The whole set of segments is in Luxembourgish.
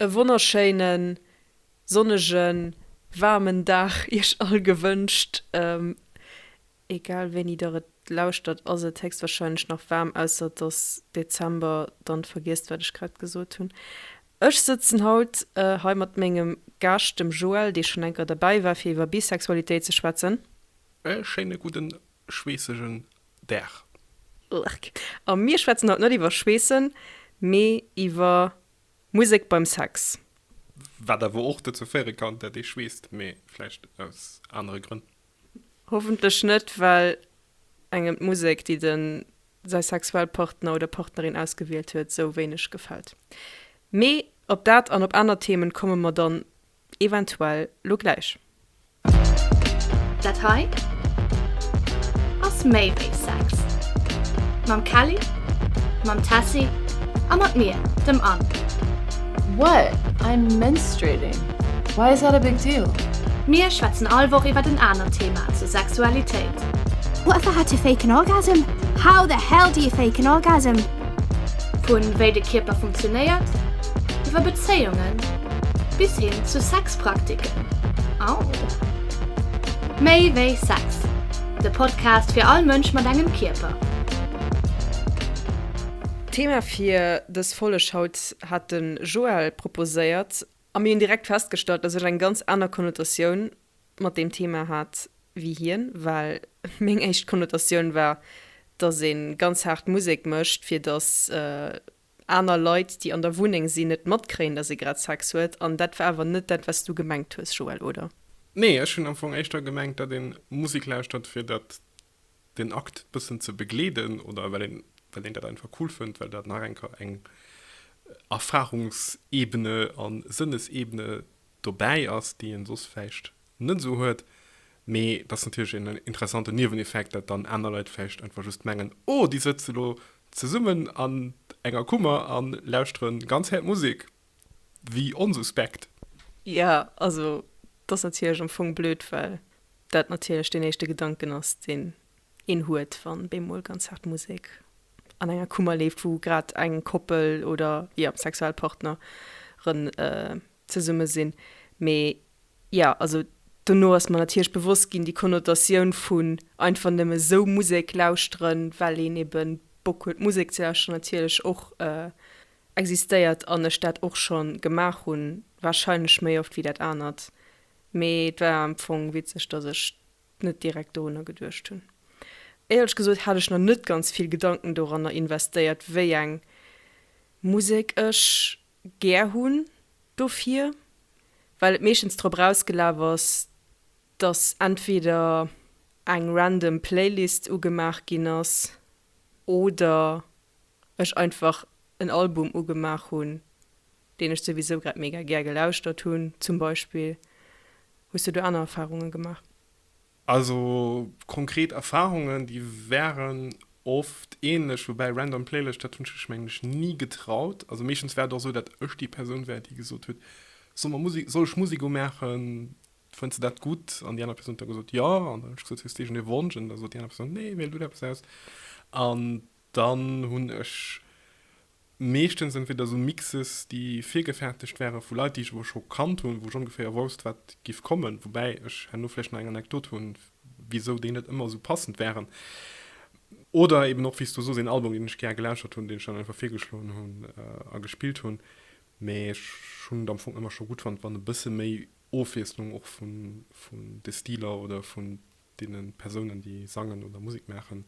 e wonnerschéinen, sonnegen, waarmen Dag iech all gewënscht. Egal wéini der et lauschtert ass et héchstwahrscheinlech nach waarm, ausser et ass Dezember, dann vergiesst wat ech grad gesot hunn. Ech sëtzen haut hei mat mengem Gaascht dem Joël, dee schonn enker derbäi war fir iwwer Bisexualitéit ze schwätzen. E schéine gudden schweessegen Berg. Lurk. A mir schwätzen haut net iwwer Schweessen, mee iwwer Musek beim Sex. Wat awer och dozou féiere kann, dat ee schweesst, mee vläicht aus anere Grënn. Hoffentlech net, well engem d'Musek, déi de säi Sexualpartner oder partnerin ausgewielt huet, sou wéineg gefält. Mee op dat an op aner Themen komme mer dann eventuell lo gläich. Dat hei ass méi wéi Sex. Mam Kelly, mam Tessy a mat mir, dem Anne. What? I'm menstruating. Why is that a big deal? Mir schwätzen all Woch iwwert en anert Thema zur Sexualitéit. What the hell to fake an orgasm? How the hell do you fake an orgasm? Vun wéi de Kierper funktionéiert, iwwer Bezéiungen, bis hin zu Sexpraktiken. Au! Méi wéi Sex, de Podcast fir all Mënsch mat engem Kierper. D'Thema fir dës Folleg haut hat de Joël proposéiert a mir hunn direkt festgestallt, dass ech eng ganz aner Konnotatioun mat deem Thema hat wéi hien, well meng éischt Konnotatioun war, dass ee ganz haart Musek mécht, fir dass aner Leit, déi an der Wunneng sinn, net matkréien, dass ee grad Sex huet. An dat war awer net dat, wat s du gemengt hues, Joël, oder? Nee, ech hunn am Fong éischter gemengt, dat ee Musek lauschtert, fir dat, den Akt bëssen ze begleeden oder well een, well een dat einfach cool fënnt, well dat nach enker eng Erfarungsebene a Sënnesebene dobäi ass, déi een soss vläicht net esou huet. Mee et ass natierlech een interessanten Nieweneffekt, dat dann aner Leit vläicht einfach just mengen, Oh, déi sëtze elo zesummen an enger Kummer a lauschteren ganz häert Musek. Wéi onsuspekt! Jo, also et ass natierlech am Fong blöd, well dat natierlech deen éischte Gedanken ass, deen een huet, wann bemol ganz haart Musek an enger Kummer leeft, wou grad eng Koppel oder, jo, Sexualpartneren zesumme sinn. Mee jo, also dono ass mer natierlech bewosst ginn, déi Konnotatioun vun einfach nëmme sou Musek lauschteren, well een ebe Bock huet Musek ze lauschteren, natierlech och existéiert an ech dat och scho gemaach hunn, warscheinlech méi oft wéi dat anert. Mee et war am Fong witzeg, datt ech net direkt dorunner geduecht hunn. Éierlech gesot hat ech nach net ganz vill Gedanken doranner investéiert, wéi eng Musek ech gär hunn dofir, well et meeschtens drop erausgelaf ass, dass entweder eng random Playlist ugemaach ginn ass oder ech einfach en Album ugemaach hunn, deen ech souwisou grad mega gär gelauschtert hunn zum Beispill. Hues du do aner Erfarunge gemaach? Also konkret Erfahrungen déi waren oft ähnlech, woubäi random Playlëscht dat hunn ech mech menglech ni getraut. Also meeschtens war et och esou dat ech déi Persoun war déi gesot huet, soll mer Musik, soll ech Musik umaachen, fënns de dat gutt? An déi aner Persoun huet da gesot, jo. An da hunn ech gesot, hues de iergendee Wonsch? An da sot déi aner Persoun, nee, wiel du der eppes aus. An Dann hunn ech meeschtens entweder esou Mixes, déi virgefertegt wäre vu Leit, déi ech awer scho kannt hunn, wou ech ongeféier wousst, wat giff kommen, woubäi ech herno vläicht nach eng Anekdot hunn, wisou déi net ëmmer esou passend wären. Oder eben och, wéi s du soos, een Album, deen ech gär gelauschtert hunn, deen ech dann einfach virgeschloen hunn a gespillt hunn. Mee ech hunn et am Fong ëmmer scho gutt fonnt, wann e bësse méi Ofwiesslung och vun de Stiler oder vun. deenen Persounen déi sangen oder Musek maachen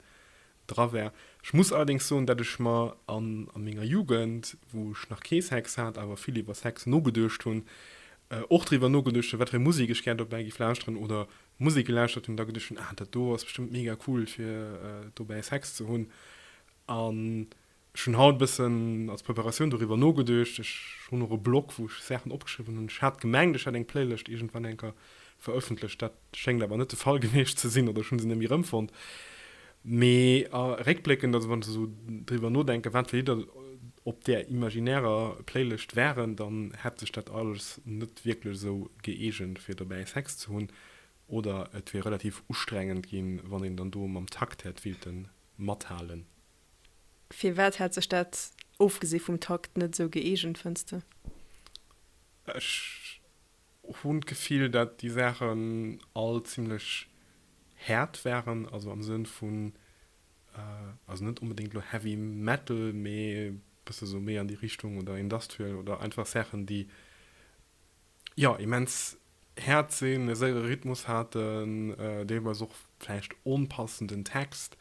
dra war. Ech muss allerdéngs soen dat ech mer an a menger Jugend wou ech nach kee Sex hat awer vill iwwer Sex nogeduecht hunn, och driwwer nogeduecht hunn wat fir Musek ech gär dobäi géif lauschteren oder Musek gelauschtert hunn da geduecht hunn ah dat do ass bestëmmt mega cool fir dobäi Sex ze hunn an Ech hunn haut e bëssen als Preparatioun doriwwer nogeduecht. Ech hunn och e Blog, wou ech Saachen opgeschriwwen hunn. Ech hat gemengt, ech hätt eng Playlëscht iergendwann eng Kéier verëffentlecht. Dat schéngt awer net de Fall gewiescht ze sinn, oder ech hu se net méi erëmfonnt. Mee réckbléckend, also wann ech esou driwwer nodenken, wat fir Lidder op där imaginärer Playlëscht waren, dann hätt sech dat alles net wierklech esou gëeegent, fir dobäi Sex ze hunn. Oder et wier relativ ustrengend ginn, wann een dann do mam Takt hätt willte mathalen. Firwat hätt sech dat, ofgesi vum Takt, net esou gëeegent, fënns de? Ech hunn d'Gefill, dat déi Saachen all zimlech haart waren, also am Sënn vun, also net onbedéngt elo Heavy Metal, mee bësse sou méi an déi Richtung oder Industrial oder einfach Saachen, déi jo, immens haart sinn, e séiere Rhythmus haten, deelweis och vläicht onpassenden Text,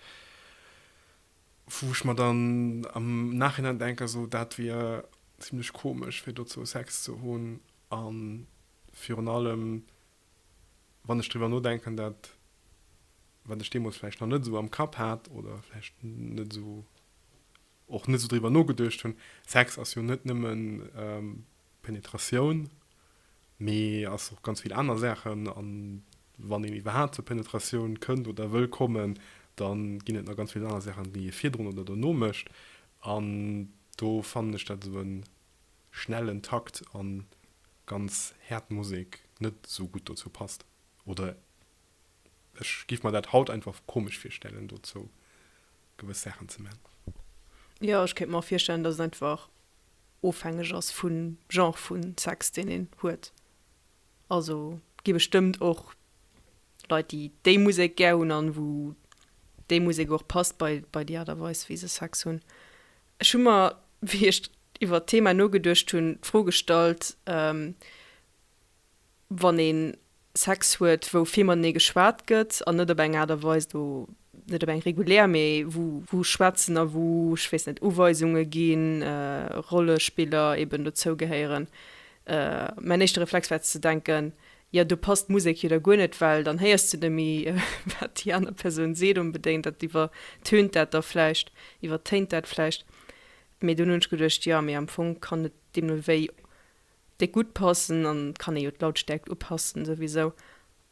wou ech mer dann am Nachhinein denken, esou dat wier zimlech komesch fir dozou Sex ze hunn a virun allem, wann ech driwwer nodenken, dat wat ech deemools vläicht nach net esou am Kapp hat oder vläicht net esou och net esou driwwer nogeduecht hunn, Sex ass jo net nëmmen Penetratioun, mee ass och ganz vill aner Saachen. A wann een iwwerhaapt zur Penetratioun kënnt oder wëll kommen, da ginn et nach ganz vill aner Saachen, déi ee virdrun oder dono mécht. An do fannen ech, dat esou e schnellen Takt a ganz haart Musek net esou gutt dozou passt. Oder ech giff mer dat haut einfach komesch virstellen dozou gewëss Saachen ze man. Jo ech kéint mer och virstellen dass et einfach ofhängeg ass vun Genre vun Sex deen een huet. Also gi bestëmmt och Leit déi déi Musek gär hunn an wou déi Musek och passt bei bei déi Art a Weis wéi se Sex hunn. Ech hu mer wéi ech iwwert d'Thema nogeduecht hunn d'Fro gestallt, wann ee Sex huet, wou vill matenee geschwat gëtt an net op eng Aart a Weis, do net op eng regulär, mee wou wou schwätzen a wou, ech weess net, Uweisunge ginn, Rollespiller eben dozou gehéieren. Mäin éischte Reflex war ze denken, jo, do passt d'Musek jo da guer net, well dann héiers de nëmme wat déi aner Persoun seet onbedéngt, dat iwwertönt dat da vläicht, iwwertéint dat vläicht. Mee dunn hunn ech geduecht, jo, mee am Fong kann et deemno wéi Déi gutt passen, an et kann ee jo d'Lautstäerkt upassen souwisou,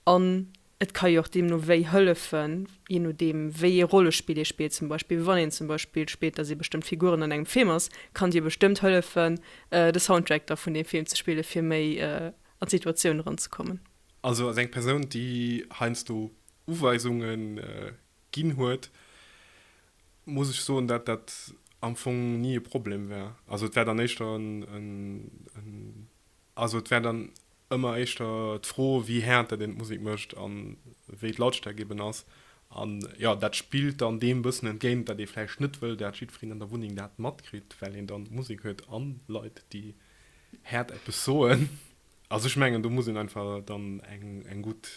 an et ka jo och deemno wéi hëllefen, jee nodeem wéi ee Rollespill ee spillt, zum Beispill wann een zum Beispill spillt, datt ee bestëmmt Figuren an engem Film ass, kann dir bestëmmt hëllefen de Soundtrack da vun deem Film ze spillen, fir méi an d'Situatioun eranzekommen. Also ass eng Persoun, déi heiansdo Uweisunge ginn huet, muss ech soen, dat dat am Fong ni e Problem wär. Also et wär dann éischter en, also et wär dann ëmmer éischter d'Fro, wéi haart dat een d'Musek mécht a wéi d'Lautstäerkt eben ass. A jo, dat spillt dann deem bëssen entgéint, datt ee vläicht net wëll, dat jiddwereen an der Wunneng dat matkritt, well een dann Musek huet a Leit, déi haart eppes soen. Also ech mengen, do muss een einfach dann eng gutt.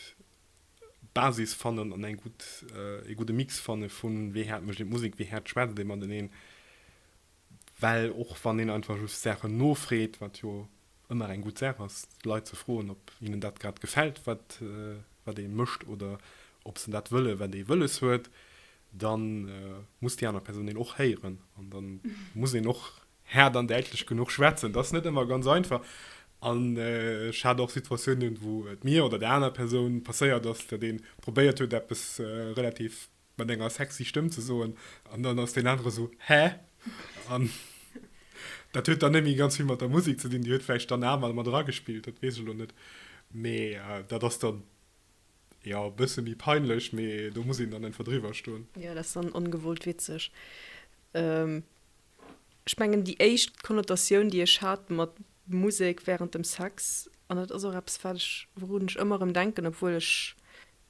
Basis fannen an eng gutt, ee gudde Mix fanne vun, wéi haart mécht een d'Musek, wéi haart schwätzt ee mateneen. Well och wann een einfach just Saachen nofreet, wat jo ëmmer eng gutt Saach ass, d'Leit ze froen, ob hinnen dat grad gefält, wat, wat ee mécht oder ob se dat wëllen, wat ee wëlles huet, da muss déi aner Persoun een och héieren an da muss een och Haart an däitlech genuch schwätzen, dat ass net ëmmer ganz einfach. An ech hat och Situatiounen, wou et mir oder der aner Persoun passéiert ass, datt ee probéiert huet, eppes relativ mat enger sexy Stëmm ze soen, an dann ass deen anere sou, Hä? An dat huet dann net méi ganz vill mat der Musek ze dinn, déi huet vläicht dann awer mat eragespillt, dat weess ech elo net. Mee dat ass dann, jo, e bësse méi peinlech, mee do muss een dann einfach driwwer stoen. Jo, dat ass dann ongewollt witzeg. Ech mengen déi éischt Konnotatioun déi ech hat mat Musek während dem Sex, an dat ass och eppes wat ech, wourun ech ëmmer erëm denken, obwuel ech,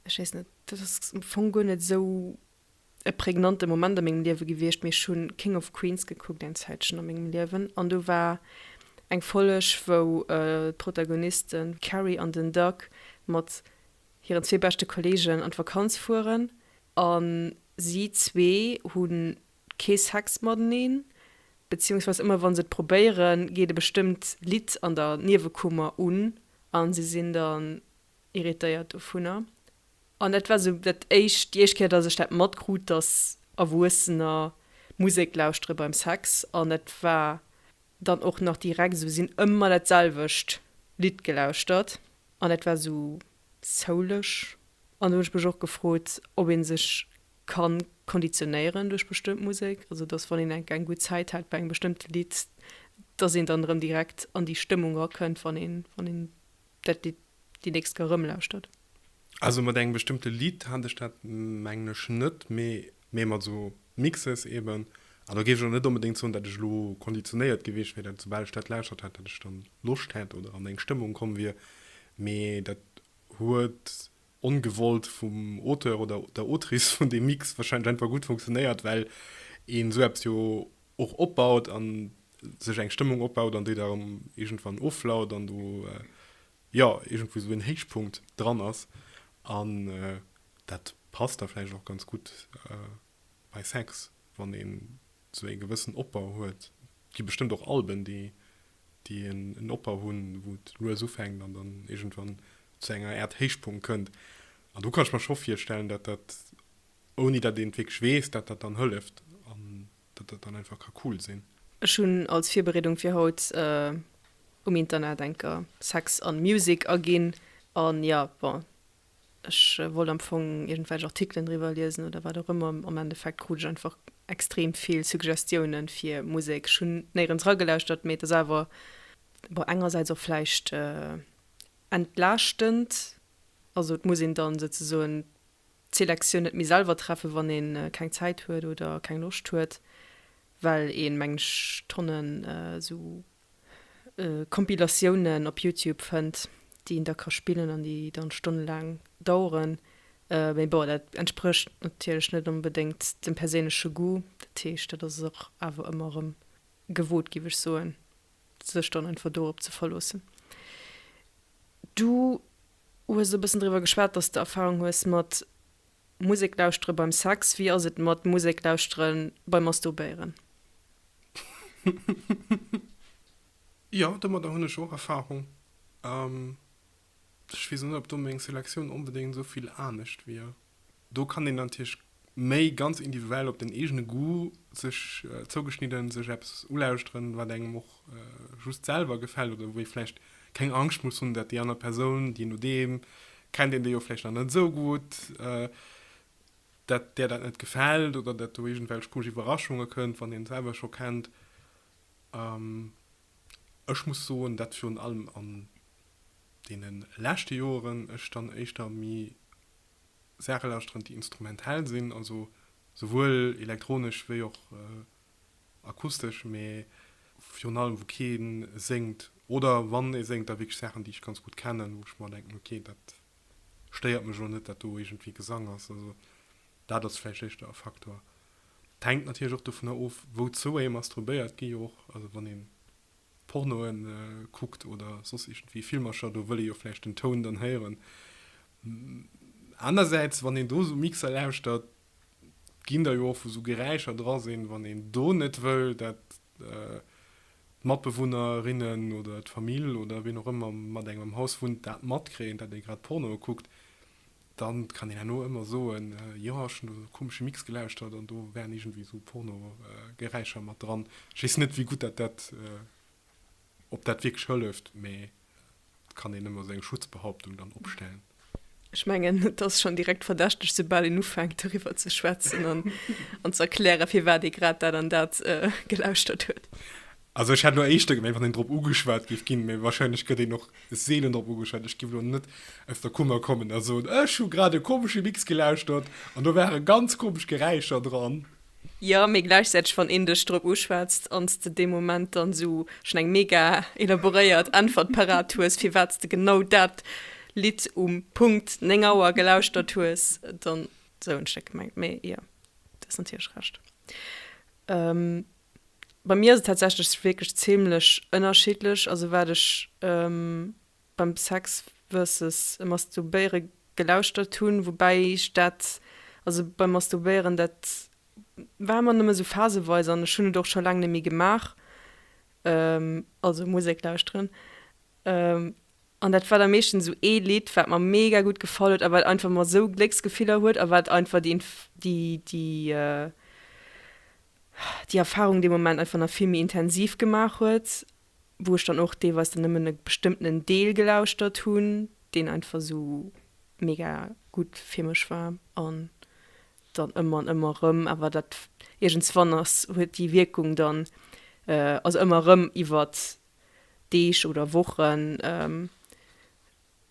ech weess net, dat ass am Fong guer net esou e prägnante Moment a mengem Liewe gewiescht, mee ech hu King of Queens gekuckt eng Zäitchen a mengem Liewen an do war eng Folleg wou d'Protagoniste Carrie an den Doug mat hiren zwee beschte Kollegen an d'Vakanz fueren a si zwee hunn kee Sex mateneen, beziehungsweis ëmmer wann se et probéieren, geet e bestëmmt Lidd an der Niewekummer un a se sinn dann irritéiert dovunner. An dat war sou dat éischt, déi éischt Kéier, dass ech dat matkrut, dass Erwuessener Musek lauschtere beim Sex. An dat war dann och nach direkt esou, si hunn ëmmer dat selwecht Lidd gelauschtert an dat war esou soulig. An do hunn ech mech och gefrot, ob ee sech kann konditionéieren duerch bestëmmt Musek, also dass wann een eng eng gutt Zäit hat bei engem bestëmmte Lidd, dass een dann erëm direkt an déi Stëmmung rakënnt, wann een wann een dat Lidd déi nächst Kéier erëmlauschtert. Also mat engem bestëmmte Lidd hat ech dat mengen ech net, mee mee mat esou Mixes eeben. An do géif ech och net onbedéngt soen, dat ech elo konditionéiert gewiescht wier, dat soubal ech dat lauschtert hätt, dat ech dann Loscht hätt oder an eng Stëmmung komm wier, mee dat huet. ongewollt vum Auteur oder der Autrice vun deem Mix wahrscheinlech einfach gutt funktionéiert, well een esou eppes jo och opbaut an sech eng Stëmmung opbaut an déi da erëm iergendwann offlaut an do jo iergendwou esou een Héichpunkt dran ass an dat passt da vläicht och ganz gutt. Bei Sex, wann een sou ee gewëssen Opbau huet, gi bestëmmt och Alben, déi en Opbau hunn, wou et lues ufänkt an dann iergendwann zu enger Äert Héichpunkt kënnt. An do kann ech mer scho virstellen, datt dat, ouni datt een et wierklech weess, datt dat dann hëlleft an datt dat dann einfach ka cool sinn. Ech hunn als Virbereedung fir haut um Internet enker Sex an Music aginn an, jo, bon, Ech wollt am Fong iergendwelch Artikelen driwwer liesen oder wat och ëmmer. Am Endeffekt krut ech einfach extrem vill Suggestiounen fir Musek. Ech hunn néierens ragelauschtert, mee et ass awer, bon, engersäits och vläicht entlaaschtend. Also et muss een dann souzesoen d'Selektioun net méi selwer treffen, wann ee keng Zäit huet oder keng Loscht huet, well ee, mengen ech, Tonnen esou Compilatiounen op Youtube fënnt, déi een da ka spillen an déi dann stonnelaang daueren. Mee bon, dat entsprécht natierlech net onbedéngt dem perséinleche Goût. Dat heescht, dat ass och awer ëmmer erëm gewot, giff ech soen, sech dann einfach dorop ze verloossen. Du hues e bëssen driwwer geschwat, dass de Erfahrung hues mat. Musek lauschtere beim Sex, wéi ass et mat Musek lauschtere beim Masturbéieren? Jo, domadder hunn ech och Erfarung. Ech weess net, ob do meng Selektioun onbedéngt esou vill anescht wier. Do kann een natierlech méi ganz individuell op den eegene Goût sech zougeschnidden sech eppes ulauschteren, wat engem och just selwer gefällt oder wou ee vläicht keng Angscht muss hunn, datt déi aner Persoun, je nodeem, kennt een déi jo vläicht nach net esou gutt, datt där dat net gefält oder datt do iergendwelch komesch Iwwerraschunge kënnt, wann een d'selwer scho kennt. Ech muss soen, datt virun allem an deene leschte Joeren ech dann éischter méi Saache lauschteren, déi instrumentell sinn, also souwuel elektronesch wéi och. akustesch, mee virun allem wou kee séngt oder wann ee séngt da wierklech Saachen déi ech ganz gutt kennen, wou ech mer denken, ok dat stéiert mech elo net dat do iergendwéi Gesang ass. Also dat ass vläicht éischter e Faktor. Et hänkt natierlech och dovunner of wouzou ee mastrubéiert, gi jo och, also wann ee Pornoe kuckt oder soss iergendwéi Filmercher, do wëll ee jo vläicht den Toun dann héieren. Anersäits wann een do esou Mixer lauschtert, ginn der jo och wou sou Geräischer dra sinn, wann een do net wëll dat d'Matbewunnerinnen oder d'Famill oder wien och ëmmer mat engem am Haus wunnt dat matkréien, dat ee grad Pornoe kuckt, da kann een herno ëmmer soen, jo ech hunn do sou komesche Mix gelauschtert an do waren iergendwéi sou Pornogeräischer mat dran. Ech weess net wéi gutt dat dat. Ob dat wierklech hëlleft, mee et kann een ëmmer seng Schutzbehauptung dann opstellen. Ech mengen, et ass schonn direkt verdächteg, soubal een ufänkt doriwwer ze schwätzen an ze erklären, firwat ee grad dat an dat gelauschtert huet. Also ech hätt elo éischter gemengt, wann een drop ugeschwat géif ginn, mee warscheinlech gëtt een och seelen drop ugeschwat. Ech géif elo net aus der Kummer kommen a soen, ech hu grad e komesche Mix gelauschtert an do ware ganz komesch Geräischer dran. Jo, mee gläichzäiteg, wann een dech drop uschwätzt an s de dee Moment dann esou schonn eng mega elaboréiert Äntwert parat hues, firwat s de genau dat Lidd um Punkt 9 Auer gelauschtert hues, dann esou hunn ech dat gemengt. Mee jo, du hues natierlech Recht. Bei mir ass et tatsächlech wierklech zimlech ënnerschiddlech, also wat ech Beim Sex versus Masturbéiere gelauschtert hunn, woubäi ech dat, also beim Masturbéieren, dat war ëmmer nëmme sou phaseweis an ech hunn et och scho laang net méi gemaach, also Musek lauschteren, an dat war da meeschtens sou ee Lidd, wat mer mega gutt gefall huet a wat einfach mer sou Glécksgefiller huet a wat einfach déi Erfarung dee Moment einfach nach vill méi intensiv gemaach huet wou ech dann och deelweis dann nëmmen e bestëmmtenen Deel gelauschtert hunn, deen einfach esou mega gutt fir mech war an dann ëmmer an ëmmer erëm. Awer dat iergendswann ass huet déi Wierkung dann, also ëmmer erëm iwwer Deeg oder Wochen,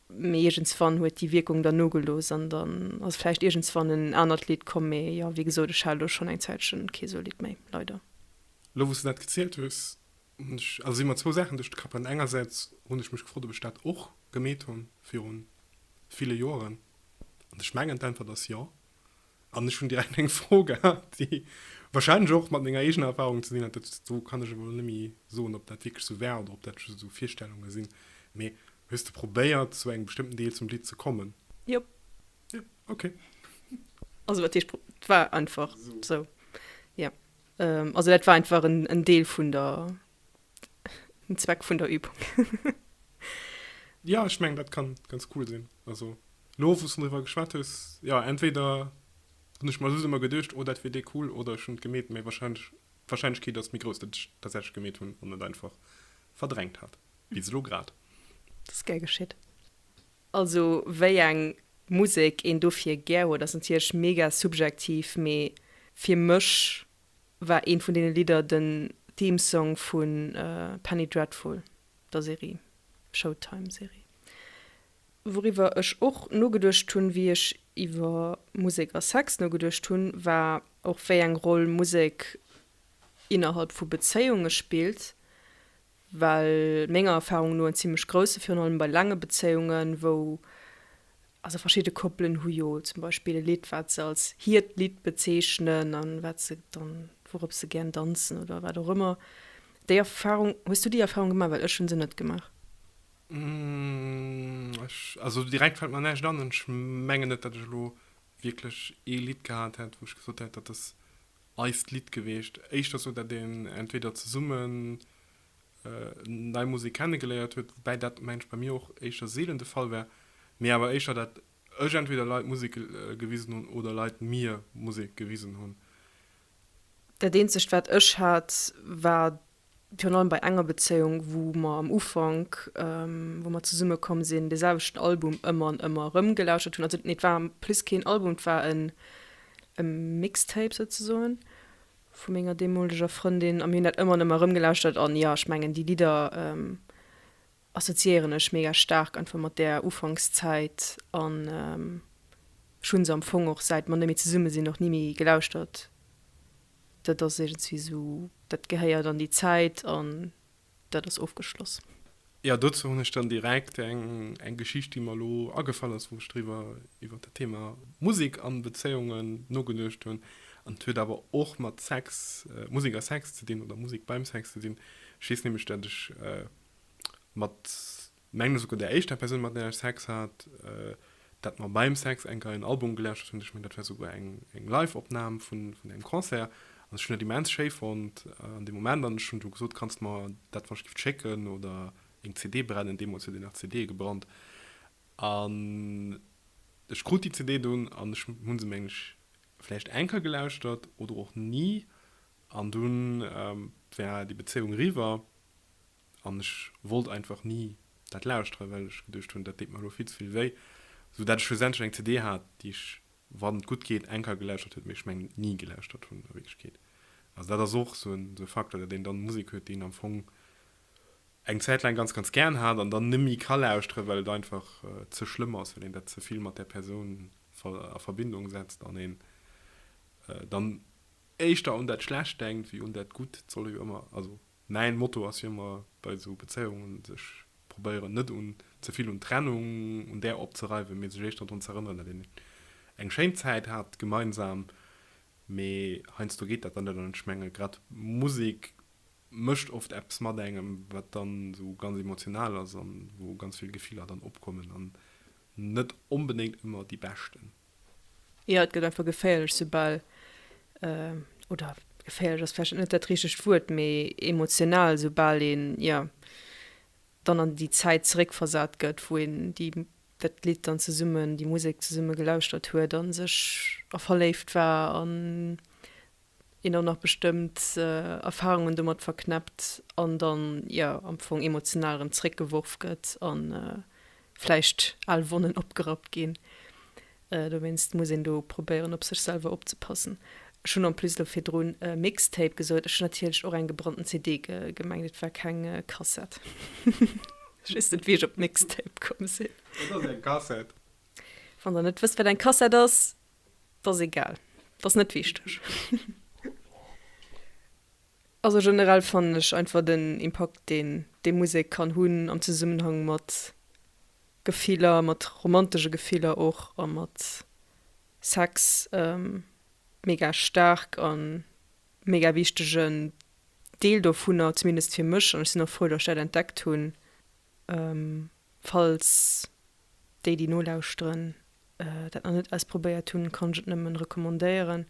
mee iergendswann huet déi Wierkung dann nogelooss an dann ass vläicht iergendswann en anert Lidd komm. Mee jo, wéi gesot, ech hat elo schonn eng Zäitche kee sou Lidd méi, leider. Elo wou s de dat gezielt hues, Also si mer zwou Saachen duerch de Kapp an. Engersäits hunn ech mech gefrot, ob ech dat och gemeet hu viru ville Joeren. An ech mengen, d'Äntwert ass jo. An ech hunn direkt eng Fro gehat, déi warscheinlech och mat menger eegener Erfarung ze dinn hat. Dat, do kann ech elo net méi soen, ob dat wierklech esou war oder ob dat just esou Virstellunge sinn. Mee hues de probéiert, zu engem bestëmmten Deel zum Lidd ze kommen? Jop. Jo, okay. Also wat heescht probéiert? Et war einfach esou, jo. Ähm, also dat war einfach en, en Deel vun der, den Zweck vun der Übung. ja, ich meng, dat kann ganz cool sinn. Also, lo, wo du drüber geschwat hues, ja, entweder hun ich mal so immer gedurcht, oh, dat wär dee cool, oder ich hun gemet, méi wahrscheinlich, wahrscheinlich geht das mir groß, dat ich tatsächlich gemet hun, an net einfach verdrängt hat. Wie lo grad. Das gär geschitt. Also wéi eng Musek een dofir gär huet ass natierlech mega subjektiv, mee fir mech war eent vun deene Lidder den Theme Song vu Penny Dreadful, der Serie, Showtime Serie, wouriwwer ech och nogeduecht hunn wéi ech iwwer Musek a Sex nogeduecht hunn, war och wéi eng Roll Musek innerhalb vu Bezéiunge spillt, well menger Erfahrung no en zimmlech grousse, virun allem bei laange Bezéiungen, wou, also verschidde Koppelen hu jo zum Beispill e Lidd, wat se als hiert Lidd bezeechnen a wat se dann, wourop se gären danzen oder wat och ëmmer. Déi Erfahrung, hues du déi Erfahrung gemaach? Well ech hu se net gemaach. Ech, also direkt fält mer näischt an an ech mengen net, datt ech elo wierklech ee Lidd gehat hätt, wou ech gesot hätt, dat ass eist Lidd geweecht. Éischter sou dat een entweder zesummen nei Musek kenne geléiert huet, woubäi dat mensch bei mir och éischter seelen de Fall war, mee awer éischter dat ech entweder Leit Musek gewisen hunn oder Leit mir Musek gewisen hunn. Dat eenzegt wat ech hat war virun allem bei enger Bezéiung, wou mer am Ufank, wou mer zesumme komm sinn, dee selwechten Album ëmmer an ëmmer erëm gelauschtert hunn, also nee, et war plus keen Album, et war e Mixtape souzesoen vu menger deemoleger Frëndin a mir hunn dat ëmmer an ëmmer erëm gelauschtert an jo, ech mengen déi Lidder assoziéieren ech mega staark einfach mat där Ufankszäit an ech hu se am Fong och, säit mer net méi zesumme sinn, och ni méi gelauschtert. Dat ass iergendwéi esou, dat gehéiert an déi Zäit an dat ass ofgeschloss. Jo, dozou hunn ech dann direkt eng Geschicht, déi mer elo agefall ass, wou ech driwwer iwwer dat Thema Musek an Bezéiungen nogeduecht hunn. An et huet awer och mat Sex, Musek a Sex ze dinn oder Musek beim Sex ze dinn. Ech weess nämlech, dat ech mat mengen esouguer der éischter Persoun mat där ech Sex hat, dat mer beim Sex eng Rei un Album gelauschtert hunn. Ech mengen dat war esouguer eng Live-Opnam vun engem Concert an ech hunn dat immens schéi fonnt an deem Moment an ech hunn du gesot, kanns de mer dat wann ech giff schécken oder eng CD brennen, deemools huet een nach CDe gebrannt an ech krut déi CD dunn an ech hunn se meng ech vläicht eng Kéier gelauschtert oder och ni an dunn war déi Bezéiung eriwwer. an ech wollt einfach ni dat lauschteren, well ech geduecht hunn, dat deet mer elo vill ze vill wéi, sou dat ech schlussendlech eng CD hat, déi ech, wann et gutt geet, eng Keier gelauschtert huet, mee ech mengen ni gelauschtert hunn a Wierklechkeet. Also dat ass och sou e Faktor, datt een dann Musek huet, déi een am Fong eng Zäit laang ganz ganz gären hat an dann neméi ka lauschteren, well et einfach ze schlëmm ass, well een dat ze vill mat där Persoun a Verbindung setzt an een dann éischter un dat Schlecht denkt wéi un dat Gutt. Et soll jo ëmmer, also Mäin Motto ass jo ëmmer bei esou Bezéiungen, sech probéieren net un ze vill un d'Trennung, un där opzereiwen, mee sech éischter drun ze erënneren, datt een eng schéin Zäit hat gemeinsam. Mee heiansdo geet dat dann net. An ech menge grad Musek mécht oft eppes mat engem, wat dann esou ganz emotional ass a wou ganz vill Gefiller dann opkommen an net onbedéngt ëmmer déi beschten. Jo et gëtt einfach geféierlech soubal, oder geféierlech ass vläicht net dat richtegt Wuert, mee emotional soubal een, jo, dann an déi Zäit zeréckversat gëtt, wou een déi, dat Lidd dann zesummen, déi Musek zesumme gelauschtert huet a sech a verléift war an. een och nach bestëmmt Erfahrungen domat verknäppt an dann jo am Fong emotional erëm zréckgeworf gëtt a vläicht al Wonnen opgerappt ginn. Dowéinst muss een do probéieren op sech selwer opzepassen. Ech hunn en plus elo virdrun Mixtape gesot, ech hunn natierlech och eng gebrannten CD gemengt, et war keng Kassett. Ech weess net wéi ech op Mixtape komm sinn. Et ass eng Kassett. Wann der net wësst wat eng Kassett ass, 't ass egal, 't ass net wichteg. Also generell fannen ech einfach den Impakt deen dee Musek kann hunn am Zesummenhang mat Gefiller, mat romantesche Gefiller och a mat Sex mega staark a mega wichtegen Deel dovunner, zumindest fir mech an ech sinn och frou datt ech dat entdeckt hunn. Falls déi déi nolauschteren dat nach net ausprobéiert hunn, kann ech et nëmmen recommandéieren.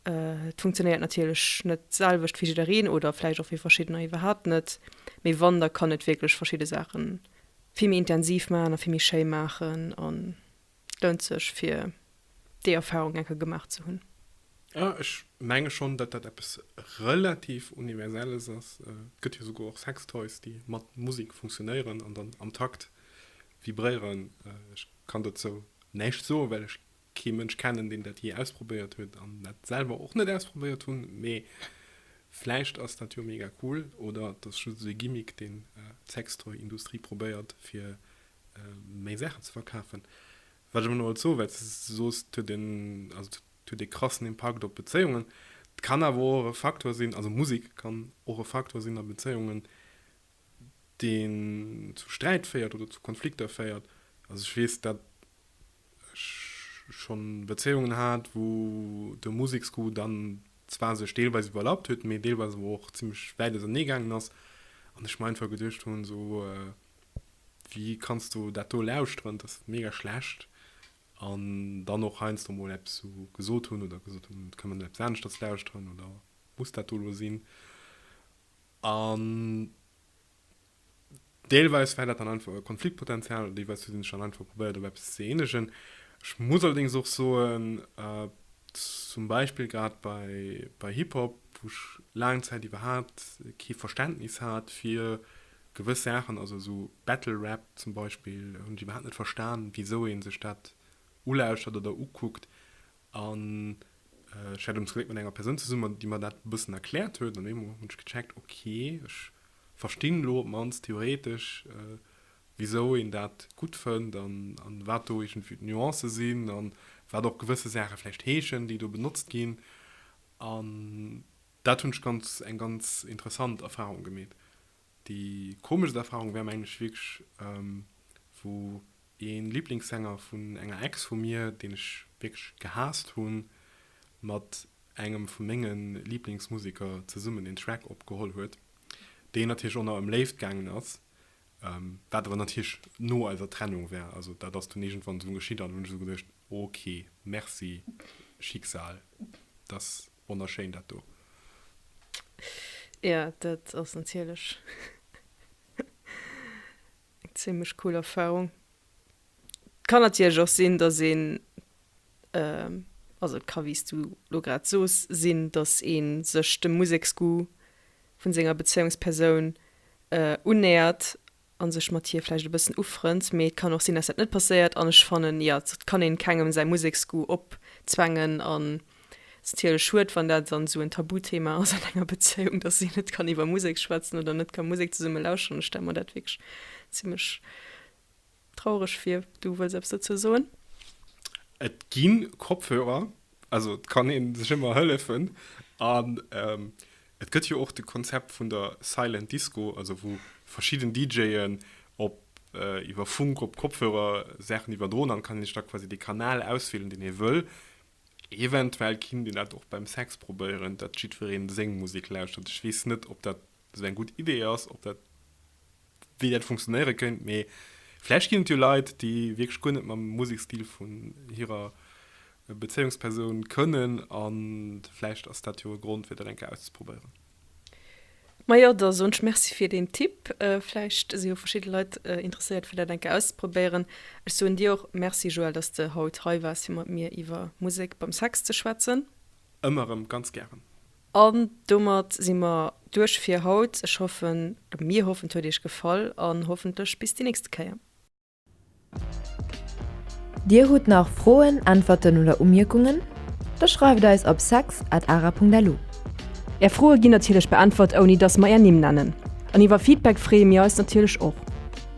Et funktionéiert natierlech net d'selwecht fir jiddereen oder vläicht och fir verschiddener iwwerhaapt net, mee wann, da kann et wierklech verschidde Saachen vill méi intensiv maachen a vill méi schéi maachen an Lount sech fir déi Erfahrung eng Kéier gemaach ze hunn. Jo, ech menge schonn, datt dat eppes relativ Universelles ass. Et gëtt jo souguer och Sextoys, déi mat Musek funktionéieren an dann am Takt vibréieren. Ech kann dozou näischt soen, well ech kee Mënsch kennen, deen dat jee ausprobéiert huet an dat selwer och net ausprobéiert hunn. Mee vläicht ass dat jo mega cool oder et ass just esou e Gimmick, deen d'Sextoy-Industrie probéiert, fir méi Saachen ze verkafen. Wat ech awer nach wollt soen, well s de soos, et huet een, also et huet ee krassen Impakt op Bezéiungen, et kann awer och e Faktor sinn, also Musek kann och e Faktor sinn a Bezéiungen, deen zu Sträit féiert oder zu Konflikter féiert. Also ech weess, datt ech schonn Bezéiungen hat, wou de Museksgoût dann zwar sech deelweis iwwerlappt huet, mee deelweis awer och zimmlech wäit auserneegaangen ass an ech mer einfach geduecht hunn, esou, Wéi kanns du dat do lauschteren? Dat ass mega schlecht. An dann och heiansdo mol eppes esou gesot hunn oder gesot hunn, et kann een eppes aneschters lauschteren oder muss dat do elo sinn? An deelweis war dat dann einfach e Konfliktpotenzial oder deelweis hu si sech dann einfach probéiert op eppes ze eenegen. Ech muss allerdéngs och soen, zum Beispill grad bei, bei Hip-Hop, wou ech laang Zäit iwwerhaapt kee Verständnis hat fir Gewëss Saachen, also esou Battle Rap zum Beispill, hunn ech iwwerhaapt net verstan, wisou ee sech dat ulauschtert oder ukuckt. An ech war dunn zum Gléck mat enger Persoun zesummen, déi mer dat e bëssen erkläert huet. An op eemol hunn ech gecheckt, okay, ech verstinn elo op d'mannst theoretesch, wisou een dat gutt fënnt an wat do iergendwéi d'Nuancë sinn an wat och gewësse Saache vläicht heeschen, déi do benotzt ginn. An Dat hunn ech ganz eng ganz interessant Erfahrung gemeet. Déi komeschst Erfahrung war mengen ech wierklech wou ee Liblingssänger vun enger Ex vu mir, deen ech wierklech gehaasst hunn, mat engem vu menge Liblingsmusiker zesummen en Track opgeholl huet, deen natierlech och nach ëm Léift gaangen ass, wat awer natierlech no eiser Trennung war. Also dat ass dunn iergendwann esou geschitt an hunn ech esou geduecht, ok, merci Schicksal dass. Wonnerschéin dat do! Ja, dat ass natierlech eng zimlech cool Erfarung. Et kann natierlech och sinn, dass een, also et ka wéi s du lo grad soos, sinn, dass ee sech dem Museksgoût vu senger Bezéiungspersoun unnähert a sech mat hir vläicht e bëssen ufrënnt, mee et kann och sinn, dass dat net passéiert an ech fannen, jo, et kann een kengem säi Museksgoût opzwängen an et ass natierlech schued, wann dat dann esou en Tabuthema ass an enger Bezéiung, dass een net kann iwwer Musek schwätzen oder net ka Musek zesumme lauscheren. Ech stelle mer dat wierklech zimlech traureg vir. Du wëlls eppes dozou soen? Et gi Kopfhörer, Also et kann een sech ëmmer hëllefen an ähm, et gëtt jo och de Konzept vun der Silent Disco, also wou verschidden DJen op äh, iwwer Funk op Kopfhörer Saachen iwwerdroen, dann kann een sech da quasi de Kanal auswielen deen ee wëll. Eventuell kinnt een dat och beim Sex probéieren, datt jiddwereen seng Musik lauschtert. Ech weess net ob dat sou eng gutt Idee ass, ob dat, wéi dat funktionéiere kéint. Mee vläicht ginn et jo Leit, déi wierklech guer net mam Musekstil vun hirer Bezéiungspersoun kënnen, a vläicht ass dat jo e Grond, fir dat eng Kéier auszeprobéieren. Majo, da soen ech Merci fir deen Tipp. Vläicht si jo verschidde Leit interesséiert, fir dat eng Kéier auszeprobéieren. Ech soen dir och Merci, Joël, dass de haut hei waars, fir mat mir iwwer Musek beim Sex ze schwätzen. Ëmmer erëm, ganz gären. An domat si mer duerch fir haut. Ech hoffen, oder mir hoffen, et huet iech gefall an hoffentlech bis déi nächste Kéier. Dir hutt nach Froen, Äntwerten oder Umierkungen? Da schreift eis op sex at ara.lu. Är Froe ginn natierlech beäntwert ouni dass mer är Nimm nennen. An iwwer Feedback freeë mir eis natierlech och.